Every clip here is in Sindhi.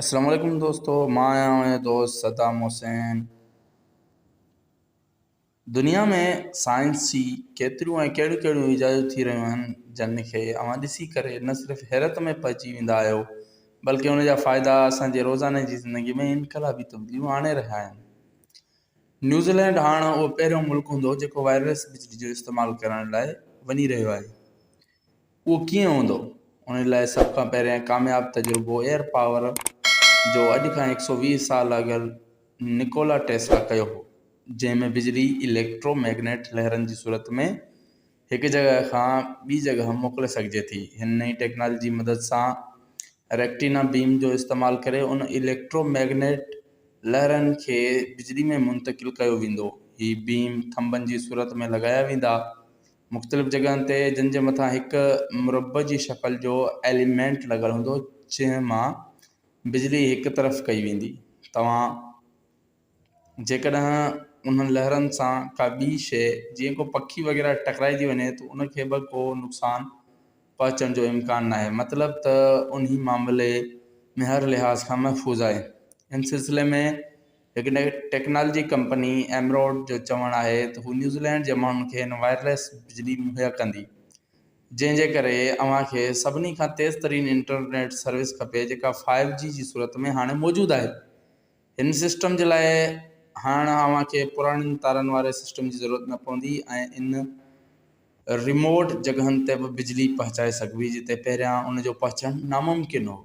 السلام عليڪم دوستو مان آهيان اوهان جو دوست صدام حسين دنيا ۾ سائنس جي ڪيتريون ۽ ڪهڙيون ڪهڙيون ايجادون ٿي رهيون آهن جن کي اوهان ڏسي ڪري نه صرف حيرت ۾ پئجي ويندا آهيو بلڪه ان جا فائدا اسان جي روزاني جي زندگي ۾ انقلابي تبديليون آڻي رهيا آهن نيوزيلينڊ هاڻ اهو پهريون ملڪ هوندو جيڪو وائرليس بجلي جو استعمال ڪرڻ لاء وڃي رهيو آهي اهو ڪيئن هوندو؟ ان لاء سڀ کان پهريان ڪامياب تجربو ايئر پاور جو اڄ کان هڪ سؤ ويهه سال اڳ نڪولا ٽيسلا ڪيو هو، جنهن ۾ بجلي اليڪٽرو ميگنيٽ لهرن جي صورت ۾ هڪ جڳهه کان ٻي جڳهه موڪلي سگهجي ٿي. هن نئين ٽيڪنالاجي جي مدد سان ريڪٽينا بيم جو استعمال ڪري ان اليڪٽرو ميگنيٽ لهرن کي بجلي ۾ منتقل ڪيو ويندو. هي بيم ٿنڀن جي صورت ۾ لڳايا ويندا. مختلف جڳهن تي جن جي مٿان هڪ مربع جي شڪل جو ايليمينٽ لڳل هوندو جنهن مان بجلي هڪ طرف ڪئي ويندي توهان جيڪڏهن انهن لهرن سان ڪا ٻي شيء جيئن ڪو پکي وغيره ٽڪرائجي وڃي ته ان کي به ڪو نقصان پهچڻ جو امڪان ناهي مطلب ته انهي معاملي ۾ هر لحاظ کان محفوظ آهي ان سلسلي ۾ هڪ ٽيڪنالاجي ڪمپني ايمروڊ جو چوڻ آهي ته هو نيوزيلينڊ جي ماڻهن کي هن وائرليس بجلي مهيا ڪندي، جنهن جي ڪري اوهان کي سڀني کان تيز ترين انٽرنيٽ سروس کپي جيڪا فائيو جي جي صورت ۾ هاڻي موجود آهي. هن سسٽم جي لاء هاڻ اوهان کي پراڻين تارن واري سسٽم جي ضرورت نه پوندي ۽ ان ريموٽ جڳهن تي به بجلي پهچائي سگهبي جتي پهريان ان جو پهچڻ ناممڪن هو.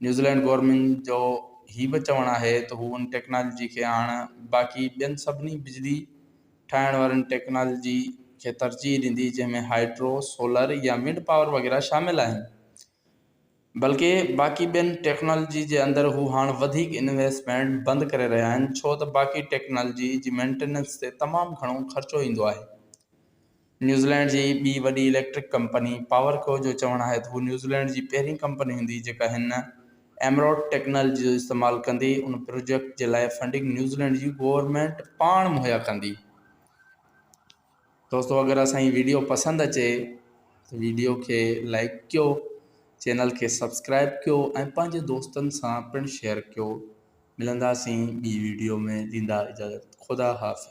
نيوزيلينڊ گورنمينٽ جو هي به چوڻ آهي ته هو ان ٽيڪنالاجي کي هاڻ باقي ٻين سڀني بجلي ٺاهڻ وارين ٽيڪنالاجي کي ترجيح ڏيندي جنهن ۾ هائيڊرو، سولر يا ونڊ پاور وغيره شامل آهن بلڪه باقي ٻين ٽيڪنالاجي جي اندر هو هاڻ وڌيڪ انويسٽمينٽ بند ڪري رهيا آهن ڇو ته باقي ٽيڪنالاجي جي مينٽيننس تي تمام گهڻو خرچو ايندو آهي. نيوزيلينڊ جي ٻي وڏي اليڪٽرڪ ڪمپني پاور ڪو جو چوڻ آهي ته هو نيوزيلينڊ جي پهرين ڪمپني هوندي جيڪا هن ايمرالڊ ٽيڪنالاجي جو استعمال ڪندي ان پروجيڪٽ جي لاء فنڊنگ نيوزيلينڊ جي گورنمينٽ پاڻ مهيا ڪندي. دوستو اگر اسان جي ويڊيو پسند اچي ته ويڊيو کي لائڪ ڪيو چينل کي سبسڪرائب ڪيو ۽ پنهنجي دوستن سان پڻ شيئر ڪيو ملنداسين ٻي ويڊيو ۾ ڏيندا اجازت خدا حافظ